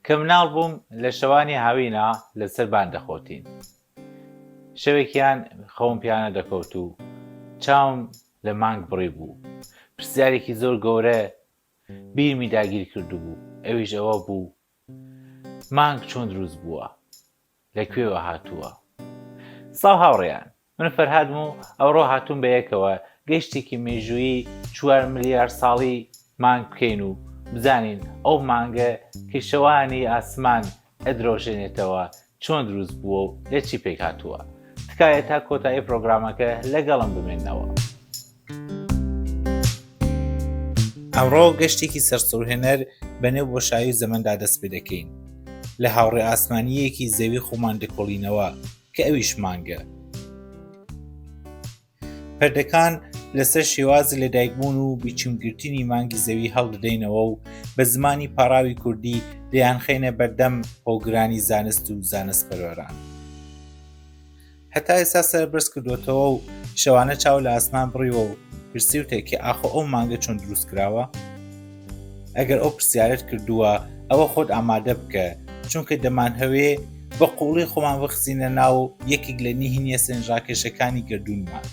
کە مناڵ بووم لە شەوانی هاوینا لە سەر بان دەخۆتین. شەوێکیان خەوم پیانە دەکەوت و چاوم لە مانگ بڕی بوو. پرسیارێکی زۆر گەورە بیرمی داگیر کردبوو، ئەویش ئەوە بوو مانگ چۆن دروست بووە؟ لە کوێوە هاتووە؟ سڵاو هاوڕێیان، من فەرهادم و ئەوڕۆ هاتووم بە یەکەوە گەشتێکی مێژوویی چوار ملیار ساڵی مانگ بکەین و بزانین ئەو مانگە کە شەوانی ئاسمان ئەدرەوشێنێتەوە چۆن دروست بووە و لە چی پێکهاتووە؟ تکایە تا کۆتایی پرۆگرامەکە لەگەڵم بمێنەوە. ئەمڕۆ گەشتێکی سەرسوورهێنەر بە نێو بۆشایی و زەمەندا دەست پێ دەکەین لە هاوڕێ ئاسمانیەکی زەوی خۆمان دەکۆڵینەوە کە ئەویش مانگە پردەکان لەسەر شێوازی لەدایکبوون و بیچمگرتنی مانگی زەوی هەڵدەدەینەوە و بە زمانی پاراوی کوردی دەیان خێنە بەردەم هۆگرانی زانست و زانست پەرۆران. هەتا ئێستا سەر بەرز کردوێتەوە و شەوانە چاو لە ئاسمان بڕیوە و پرسیوتێکی ئاخۆ ئەو مانگە چۆن دروست کراوە ئەگەر ئەو پرسیارت کردووە ئەوە خۆت ئامادە بکە چونکە دەمان هەوێ بە قوڵی خۆمان بخزینە ناو یەکێک لە نهینە سنجڕاکێشەکانی گردوونمان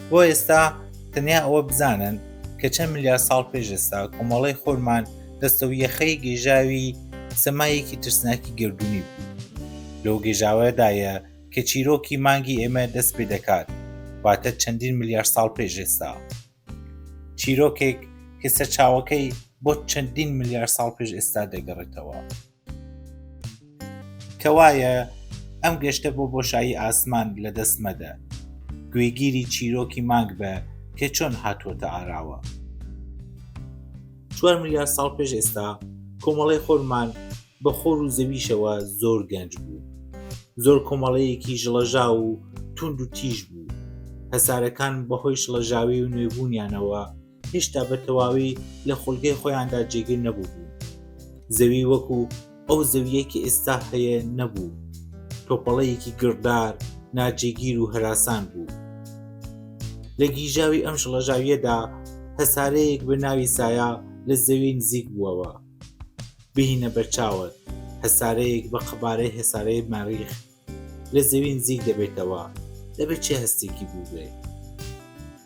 بۆ ئێستا تەنیا ئەوە بزانن کە چەند ملیار ساڵ پێش ئێستا کۆمەڵی خۆرمان دەستە و یەخەی گێژاوی سەمایەکی ترسناکی گردردونی بوو لەو گێژاوەدایە کە چیرۆکی مانگی ئێمە دەست پێ دەکات واتە چەندین ملیار ساڵ پێش ئێستا چیرۆکێک کە سەرچاوەکەی بۆ چەندین ملیار ساڵ پێش ئێستا دەگەڕێتەوە. کەوایە ئەم گەشتە بۆ بۆشایی ئاسمان لە دەست مەدە گوێگیری چیرۆکی مانگ بە کە چۆن هاتووەتە ئاراوە چوار ملیار ساڵ پێش ئێستا کۆمەڵی خۆرمان بە خۆر و زەویشەوە زۆر گەنج بوو زۆر کۆمەڵەیەکی ژڵەژا و تونند و تیژ بوو هەسارەکان بەهۆی شڵەژاوی و نوێبوونیانەوە هێشتا بە تەواوی لە خولگەی خۆیاندا جێگیر نەبووبوون زەوی وەکو ئەو زەویەکی ئێستا هەیە نەبوو تۆپەڵەیەکی گڕدار ناجێگیر و هەراسان بوو لە گیژاوی ئەم شڵەژاویەدا هەسارەیەک بە ناوی سایە لە زەوی نزیک بووەوە بهینە بەرچاوت هەسارەیەک بە قەبارەی هەسارەی مەریخ لە زەوی نزیک دەبێتەوە، دەبێت چ هەستێکی بووبێ؟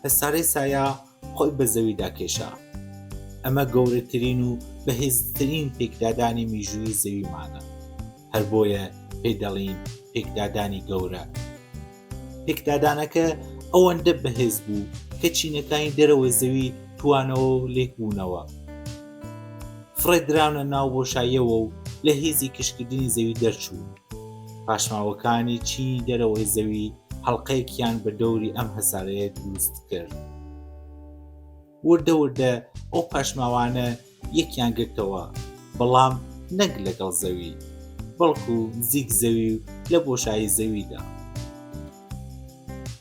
هەسارەی سایا خۆی بە زەویدا کێشا. ئەمە گەورەترین و بەهێزترین پێکدادانی میژووی زەویمانە. هەر بۆیە پێ دەڵین پێکدادانی گەورە. پێکدادانەکە ئەوەندە بەهێز بوو کە چینەکانی دەرەوەی زەوی توانەوە و لێک بوونەوە. فڕێ دراونە ناو بۆشاییەوە و لە هیزی کشکردنی زەوی دەرچوون. پاشماوەکانی چینی دەرەوەی زەوی هەڵقەیەکیان بە دەوری ئەم هەسارەیە دروست کرد. وردە وردە ئەو پاشماوانە یەکیان گرتەوە، بەڵام نەک لەگەڵ زەوی، بەڵکو نزیک زەوی و لە بۆشایی زەویدا.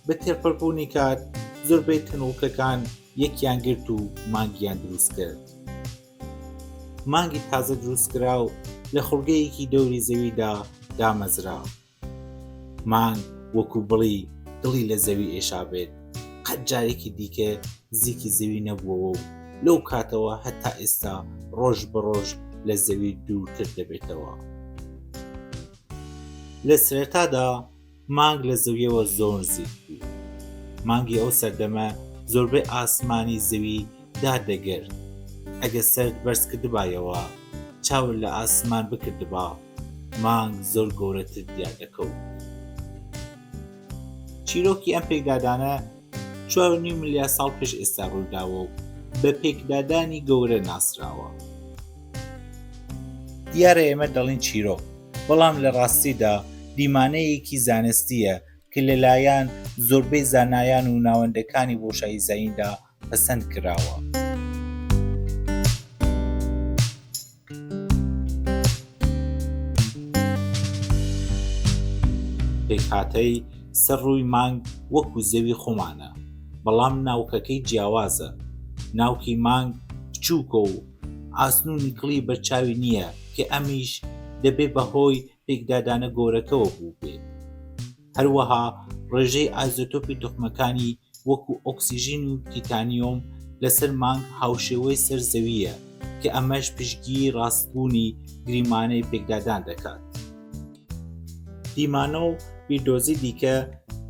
بە تێپەڕبوونی کات زۆربەی تەنوڵکەکان یەکیان گرت و مانگیان دروست کرد. مانگی تازە دروستکراو لە خوڵگەیەکی دەوری زەویدا دامەزرا. مانگ وەکو بڵی دڵی لە زەوی ئێشابێت، قەت جارێکی دیکە نزیکی زەوی نەبووەوە و لەو کاتەوە هەتا ئێستا ڕۆژ بە ڕۆژ لە زەوی دوورتر دەبێتەوە. لە سەرەتادا، مانگ لە زەویەوە زۆر نزیک بوو. مانگی ئەو سەردەمە زۆربەی ئاسمانی زەوی دار دەگرت. ئەگە سەرت بەرز کردبایەوە چاوت لە ئاسمان بکردبا مانگ زۆر گەورەتر دیار دەکەوت. چیرۆکی ئەم پێکدادانە چوار و نیو ملیار ساڵ پێش ئێستا ڕوویداوە و بە پێکدادانی گەورە ناسراوە. دیارە ئێمە دەڵین چیرۆک، بەڵام لە ڕاستیدا دیمانەیەکی زانستییە کە لەلایەن زۆربەی زانایان و ناوەندەکانی بۆشایی زەیندا پەسەند کراوە. پێکهاتەی سەر ڕووی مانگ وەکو زەوی خۆمانە بەڵام ناوکەکەی جیاوازە، ناوکی مانگ بچووکە و ئاسن و نیکڵی بەرچاوی نییە کە ئەمیش دەبێ بەهۆی پێکدادانە گۆرەکەوە بووبێت. هەروەها ڕێژەی ئازۆتۆپی توخمەکانی وەکو ئۆکسیژین و تیتانیۆم لەسەر مانگ هاوشێوەی سەر زەوییە کە ئەمەش پشتگیری ڕاستبوونی گریمانەی پێکدادان دەکات. دیمانە و بیردۆزی دیکە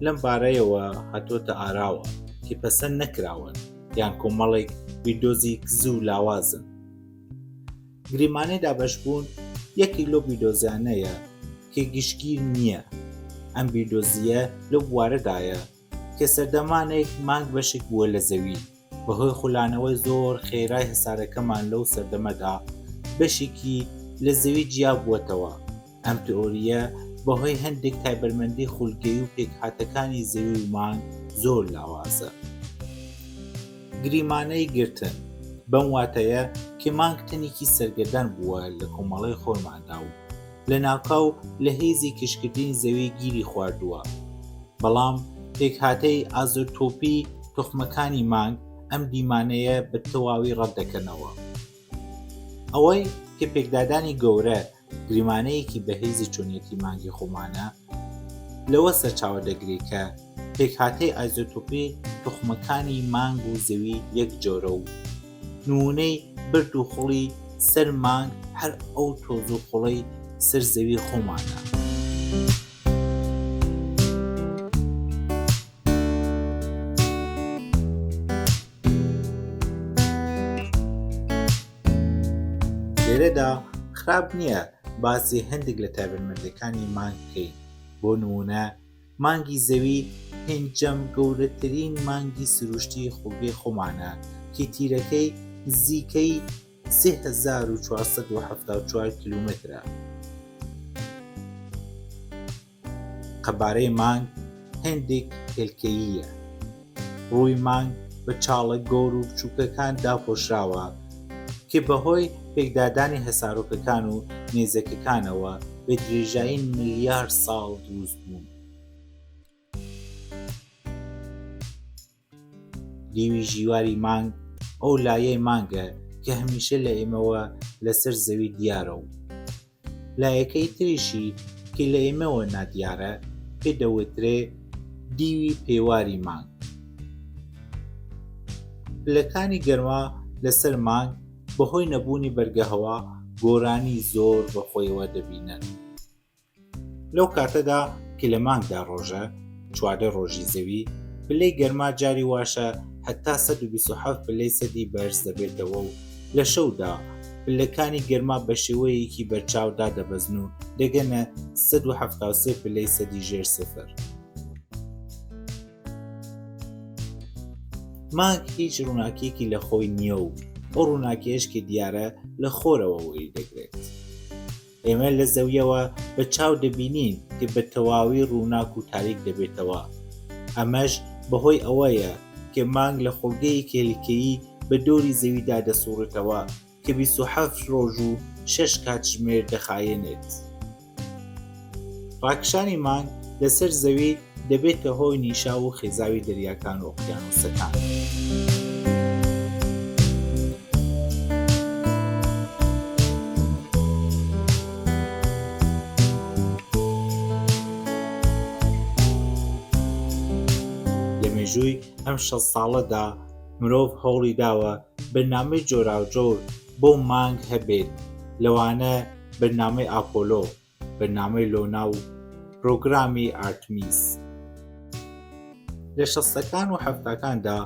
لەم بارەیەوە هاتۆتە ئاراوە کە پەسەند نەکراون یان کۆمەڵێک بیردۆزی کز و لاوازن. گریمانەی دابەشبوون یەکێک لەو بیردۆزیانەیە کە گشتگیر نییە ئەم بیردۆزیە لەو بوارەدایە کە سەردەمانێک مانگ بەشێک بووە لە زەوی بەهۆی خولانەوەی زۆر خێرای هەسارەکەمان لەو سەردەمەدا بەشێکی لە زەوی جیا بووەتەوە ئەم تئۆرییە بەهۆی هەندێک تایبەرمەندی خولگەیی و پێکهاتەکانی زەوی و مانگ زۆر لاوازە. گریمانەی گرتن، بەم واتایە کە مانگ تەنێکی سەرگەردان بووە لە کۆمەڵەی خۆرماندا و لە ناکاو لە هێزی کشکردنی زەوی گیری خواردووە بەڵام پێکهاتەی ئازۆتۆپی توخمەکانی مانگ ئەم دیمانەیە بە تەواوی ڕەتدەکەنەوە ئەوەی کە پێکدادانی گەورە گریمانەیەکی بەهێزی چۆنیەتی مانگی خۆمانە لەوە سەرچاوە دەگرێت کە پێکهاتەی ئایزۆتۆپی توخمەکانی مانگ و زەوی یەک جۆرە و نمونەی برد و خوڵی سەر مانگ هەر ئەو تۆز و خوڵەی سەر زەوی خۆمانە. لێرەدا خراپ نییە باسی هەندێک لە تایبەتمەندەکانی مانگ بکەین بۆ نمونە مانگی زەوی پێنجەم گەورەترین مانگی سروشتی خوڵگەی خۆمانە کی تیرەکەی نزیکەی 1970 کیلومترە قەبارەی مانگ هێندێک هێلکەییە، ڕووی مانگ بە چاڵە گەور و بچووکەکان داپۆشراوە کە بەهۆی پێکدادانی هەسارۆکەکان و نێزەکەکانەوە بە درێژایی ملیار ساڵ دروست بوون. دیوی ژیواری مانگ ئەو لایەی مانگە کە هەمیشە لە ئێمەوە لەسەر زەوی دیارە و لایەکەی تریشی کە لە ئێمەوە نادیارە پێ دەوترێ دیوی پێواری مانگ پلەکانی گەرما لەسەر مانگ بەهۆی نەبوونی بەرگەهەوا گۆرانی زۆر بەخۆیەوە دەبینن لەو کاتەدا کە لە مانگدا ڕۆژە چواردە ڕۆژی زەوی، پلەی گەرما جاری واشە هەتا سەد و بیست و حەفت پلەی سەدی بەرز دەبێتەوە و لە شەودا پلەکانی گەرما بە شێوەیەکی بەرچاو دادەبەزن و دەگەنە سەد و حەفتا و سێ پلەی سەدی ژێر سفر. مانگ هیچ ڕووناکیەکی لە خۆی نییە و ئەو ڕووناکیەش کە دیارە لە خۆرەوە وەری دەگرێت. ئێمە لە زەویەوە بە چاو دەبینین کە بە تەواوی ڕووناک و تاریک دەبێتەوە، ئەمەش بەهۆی ئەوەیە کە مانگ لە خۆڵگەیەکی هەلیکەیی بە دۆری زەویدا دەسوڕێتەوە کە بیست و حەفت ڕۆژ و شەش کاتژمێر دەخایەنێت. ڕاکشانی مانگ لەسەر زەوی، دەبێتە هۆی نیشاو و خێزاوی دەریاکان و ئۆقیانووسەکان. لە مێژووی ئەم شەست ساڵەدا مرۆڤ هەوڵی داوە بەرنامەی جۆراوجۆر بۆ مانگ هەبێت، لەوانە بەرنامەی ئاپۆلۆ، بەرنامەی لۆنا و پرۆگرامی ئارتمیس لە شەستەکان و حەفتاکاندا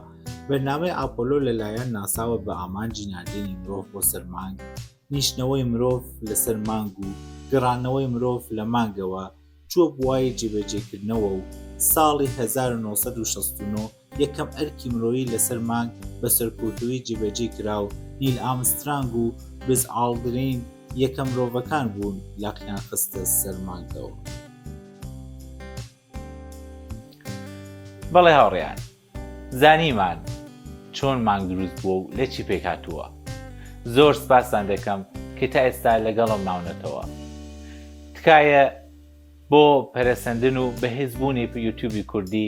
بەرنامەی ئاپۆلۆ لەلایەن ناساوە بە ئامانجی ناردنی مرۆڤ بۆ سەرمانگ نیشتنەوەی مرۆڤ لەسەر مانگ و گەڕانەوەی مرۆڤ لە مانگەوە چووە بواری جێبەجێکردنەوە و ساڵی 1969 یەکەم ئەرکی مرۆیی لەسەر مانگ بە سەرکوتوویی جێبەجێ کرا و نیل ئامسترانگ و بز ئاڵدرین یەکەم مرۆڤەکان بوون لاقیان خستە سەر مانگەوە. بەڵێ هاوڕێیان، زانیمان چۆن مانگ دروست بووە و لە چی پێک هاتووە. زۆر سپاستان دەکەم کە تا ئێستا لەگەڵم ماونەتەوە. تکایە بۆ پەرەسەندن و بەهێزبوونی یوتیوبی کوردی،